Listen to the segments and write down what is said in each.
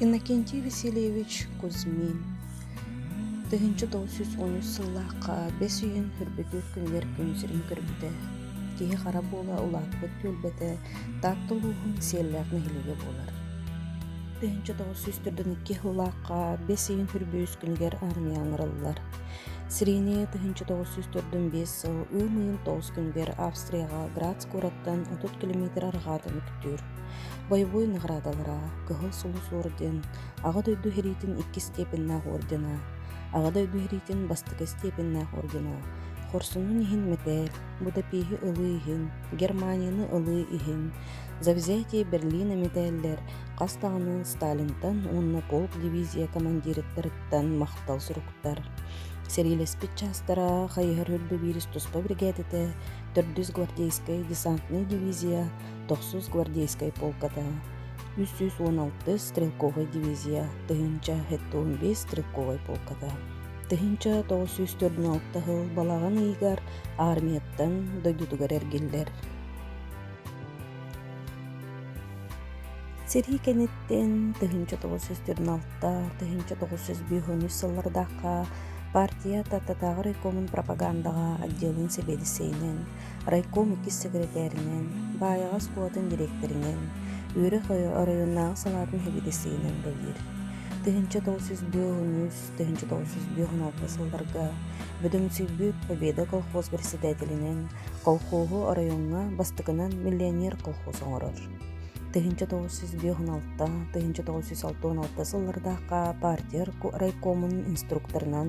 Иннокентий Васильевич Кузьмин тыһыынча тоҕус сүүс он үс сыллаахха бэс үйэн хүрбүтүр күнүгэр күн сирин көрбүтэ. Киһи хара буола улааппыт түөлбэтэ Таатта улууһун Сиэллээх нэһилиэгэ буолар. Тыһыынча тоҕус сүүс төрдөн икки сыллаахха бэс ыйын хүрбүс күнүгэр аармыйа аҥараллар. Сирение тыһыынча тоҕус сүүс төрдөн биэс сыл ыам ыйын тоҕус күнүгэр Австрияҕа Грац куораттан отут километр арҕаатын көрдөрдүлэр. Боевой наградалара Кыһыл Сулус орден, Аҕа дойду сэриитин иккис степеннээх ордена, Аҕа дойду сэриитин бастакы степеннээх ордена, Хорсунун иһин мэтээл, Будапеһи ылыы иһин, Германияны ылыы иһин, Завзятие Берлина мэтээллэр хас даҕаны Сталинтан уонна полк дивизия командириттарыттан махтал суруктар. Сэриилэспит чаастара хайыһар үрдэ биирис туспа биригээдэтэ, төрдүс гвардейскай десантная дивизия тохсус гвардейскай полката үс сүүс уон алтыс стрелковай дивизия тыһыынча сэттэ уон биэс стрелковай полката тыһыынча тоҕус сүүс төрдүн алта сыл балаҕан ыйыгар аармыйаттан дойдутугар эргиллэр сэрии кэнниттэн тыһыынча тоҕус сүүс төрдүн алта тыһыынча тоҕус сүүс биэс оннук сыллардаахха партия тааттатааҕы райкомун пропагандаҕа отделын сэбиэдиссэйинэн райком иккис сэкирэтээринэн, Баайаҕас куотан дириэктэринэн, үөрэх оройуоннааҕы салаатын сэбиэдиссэйинэн үлэлиир. Тыһыынча тоҕус сүүс биэс үс тыһыынча тоҕус сүүс биэс он алта сылларга Бөдөҥсүйбүт Победа колхоз председателинэн колхоһу оройуоҥҥа бастакынан миллионер колхоз оҥорор. Тыһыынча тоҕус сүүс биэс он алта тыһыынча тоҕус сүүс алта он алта сыллардаахха партия райкомун инструкторынан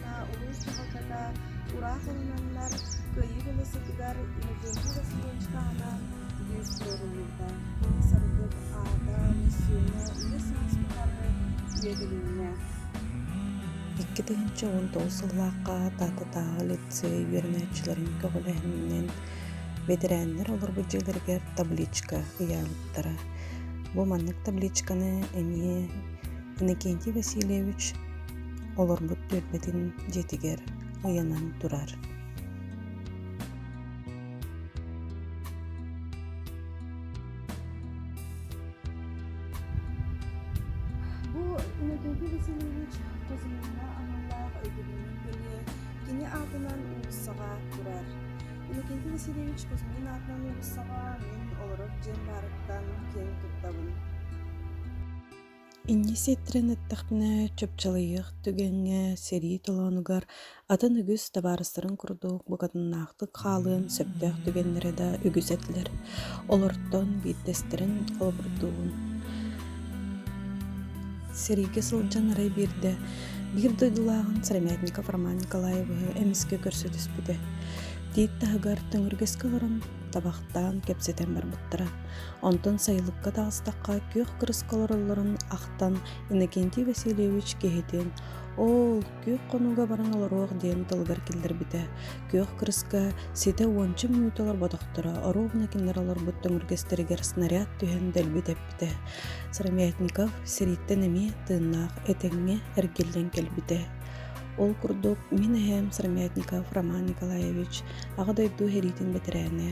улуус дьаһалтата Ураах ылынаннар Кыайыы дьылы сытыгар Ньукуунка Васильевичка анаан бүт ыытылынна. Саргы аата массыына үһүс саас тухары үөтүлүннэ. Икки тыһыынча уон тоҕус сыллаахха Таататааҕы лицей үөрэнээччилэрин көҕүлэһининэн бэтэрээннэр олорбут дьиэлэригэр табличка ыйаабыттара. Бу маннык табличканы эмиэ Иннокентий Васильевич олорбут түөлбэтин дьиэтигэр ыйанан турар бу нөдөлгө васильевич тузмина аналлаах өйдөбүлүн көлүө кини аатынан уулуссаҕа турар иннокентий васильевич кузьмин аатынан уулуссаҕа мин олорор дьиэм баарыттан киэн туттабын Инньэ сиэттэрэн эттэхпинэ, чапчылыйыах түгэҥҥэ, сэрии толоонугар атын үгүс табаарыстарын курдук букатыннаахтык хаалыан сөптөөх түгэннэрэ да үгүс этилэр. Олортон биирдэстэрин холобурдуубун. Сэриигэ сылдьан арай биирдэ биир дойдулааҕын Сыромятников Роман Николаевы эмискэ көрсө түспүтэ. Тиит таһыгар төҥүргэскэ олорон табахтаан кэпсэтэн барбыттара. Онтон сайылыкка таҕыстахха күөх кырыска олороллорун ахтан Иннокентий Васильевич киһитин «Оо, күөх хонууга баран олоруох» диэн тылыгар киллэрбитэ. Күөх кырыска ситэ уонча мүнүүтэ олорботохторо ровно кинилэр олорбут төҥүргэстэригэр снаряд түһэн дэлби тэппитэ. Сыромятников сириттэн эмиэ тыыннаах этэҥҥэ эргиллэн кэлбитэ. Ол курдук, мин эһээм Сармятников Роман Николаевич Аҕа дойду сэриитин бэтэрээнэ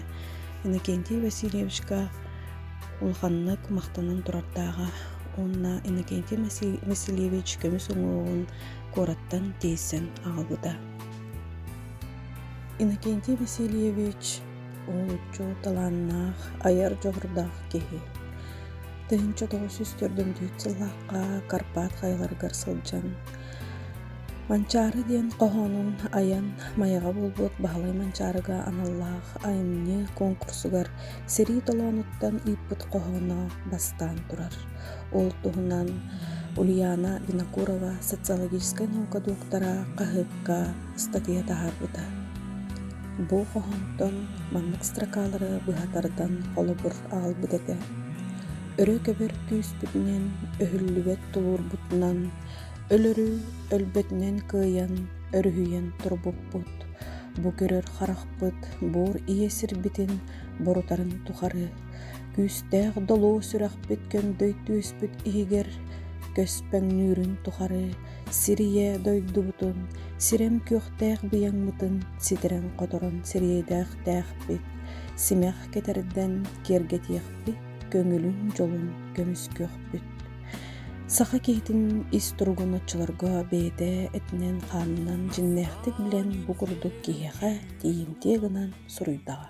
Иннокентий Васильевичка улаханнык махтанан турардааҕа уонна Иннокентий Васильевич көмүс уҥуоҕун куораттан тиэйсэн аҕалбыта. Иннокентий Васильевич олуччу талааннаах, айар дьоҕурдаах киһи. Тыһыынча тоҕус сүүс сыллаахха Карпат хайаларыгар сылдьан Манчаары диэн хоһоонун айан Майаҕа буолбут Баһылай Манчаарыга аналлаах айымньы куонкурсугар сэрии толоонуттан ыыппыт хоһооно бастаан турар. Ол туһунан Ульяна Винокурова социологическай наука доктора хаһыакка ыстатыйа таһаарбыта. Бу хоһоонтон маннык строкалары быһа тардан холобур аҕалбыт этэ. Өрө көбөр күүспүтүнэн, өһүллүбэт тулуурбутунан Өлөрү өлбөтүнэн кыайан, өрүһүйэн турбуппут, бу көрөр харахпыт буор ийэ сирбитин борутарын тухары, күүстээх долоо сүрэхпит көҥдөй түөспүт иһигэр көспөҥнүүрүн тухары сирийэ дойдубутун, сирэм күөхтээх быйаҥмытын ситэрэн-хоторон сириэдээхтээхпит, симэх кэтэрдэн киэргэтиэхпит, көҥүлүн-дьолун көмүскүөхпүт. Саха киһитин ис туругун оччолорго бэйэтэ этинэн-хаанынан дьиҥнээхтик билэн бу курдук киһиэхэ тиийимтиэ гынан суруйдаҕа